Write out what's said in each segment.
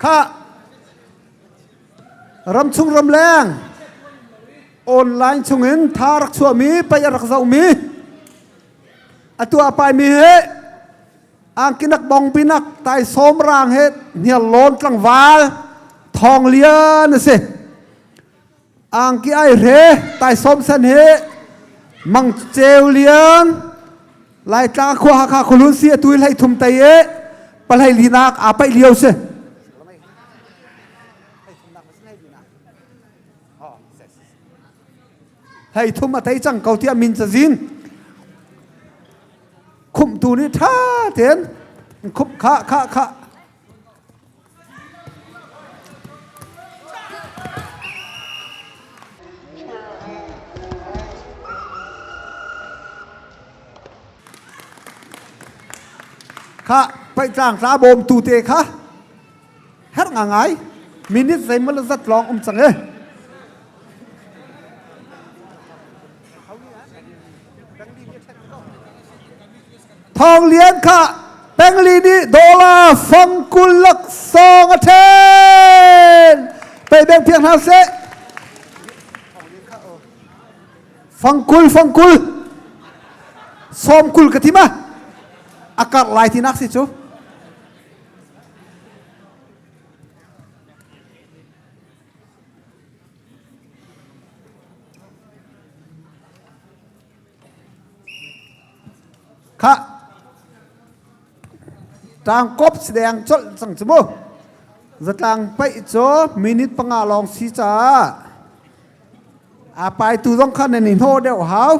Kha ramchung ramleng online chungin tha rak chuahmi pei a rak zohmi a tuah paimi hi angkinak bongbinak taisawm raang he hnial lawn tlangval thawng lian a si Angki ai hre taisawm sen he mang ceu liang laitla khua hakha khulun si atui hlei thum tei e palhei linak a paih lio si hlei thum a tei cang ko tiah min cazin khumtu nih ṭha ten khump kha kha kha kha paitlang ra bawmtu te kha her nga ngai minute zeimaw zat lawng um cang e Thawng Lian kha Pengli nih dollar fong kul laksawng a ṭhen. Pei beng phiak hna seh. Fang kul fang kul. Sawm kul ka tim ah. A karh lai ti nak si cu. Khah! Ṭangkop si deng colh cang cu mu. Zatlang paih cu minute panga lawng si caah a paitu zong khan nan i hno deuh hau.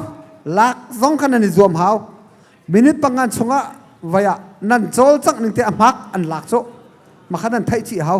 Lak zong khan nan i zuam hau. Minute panga chungah vai ah nan cawl cang ning te a hmak an lak cu. Makhan an theih chih hau.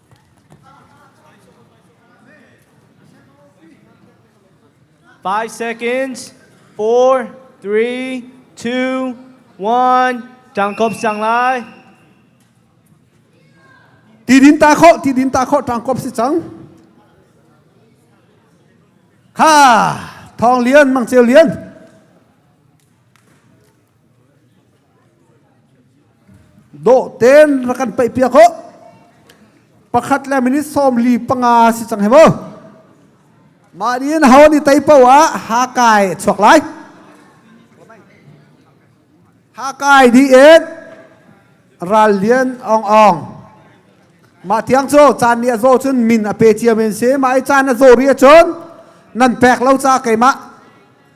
Five seconds. Four, three, two, one. Tangkop sang lai. Ti din ta kho, ti din ta kho tangkop si cang. Ha, thong lian mang ceu lian. Dawh ten ra kan paih piak ho. Pakhat le minute sawmli panga si cang he maw. Mah nih ho ni tei po ah ha kai chuak lai. Ha kai di et ral lian ong ong. Mah tiang cu caan nih a zaw cun min a pe cia men si. Mah i caan a zaw ri cun nan pek lo ca keimah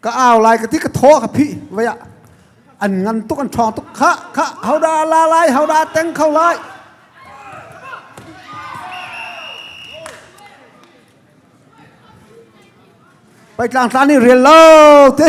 ka au lai ka ti ka thaw ka phi vaya an ngan tuk an ṭhawng tuk kha kha hau da la lai hau da teng kho lai paitlang tlan ni rel lo te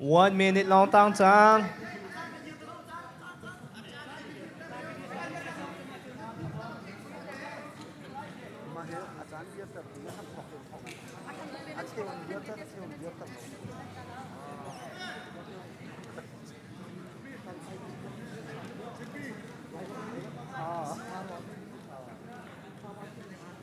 One minute lawngtang cang.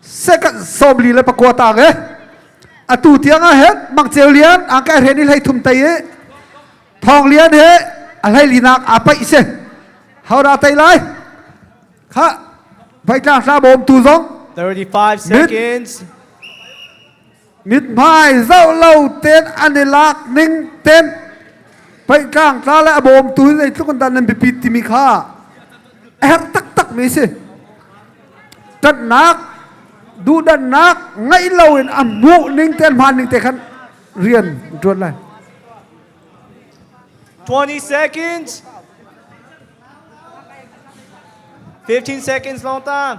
second somli le pakua tang e atu tiang ah hen mangceu lian ang kai hren i hlei thum tei e thong lian he a hlei linak a pai se hawra tei lai kha vai tlang hra bawm tu zong 35 seconds mithmai zoh lo ten an i lak ning ten phaitlang tla le a bawmtu hi zeitluk in dan nan biapit timi kha a herh taktak mi si ṭatnak duhdannak ngaih lo in a hmuh ning te hmaan ning te khan rian ṭuan lai 20 seconds 15 seconds long time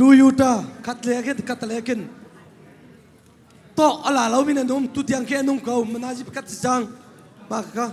Toyota khat le ke khat le kin to ala lo min anum tu tiang ke anung ko manaji pakat si jang ba ka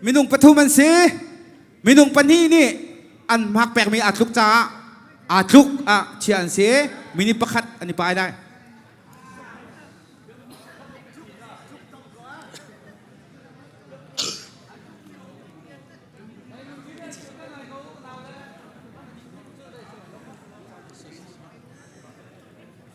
Minung pathum an si. Minung pahnih nih an hmak pekmi aa tluk caah aa tluk ah chiah an si. Minute pakhat an i pai lai.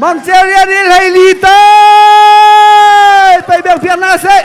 Mamcia rian i hleili te pei beuh fiang na seh.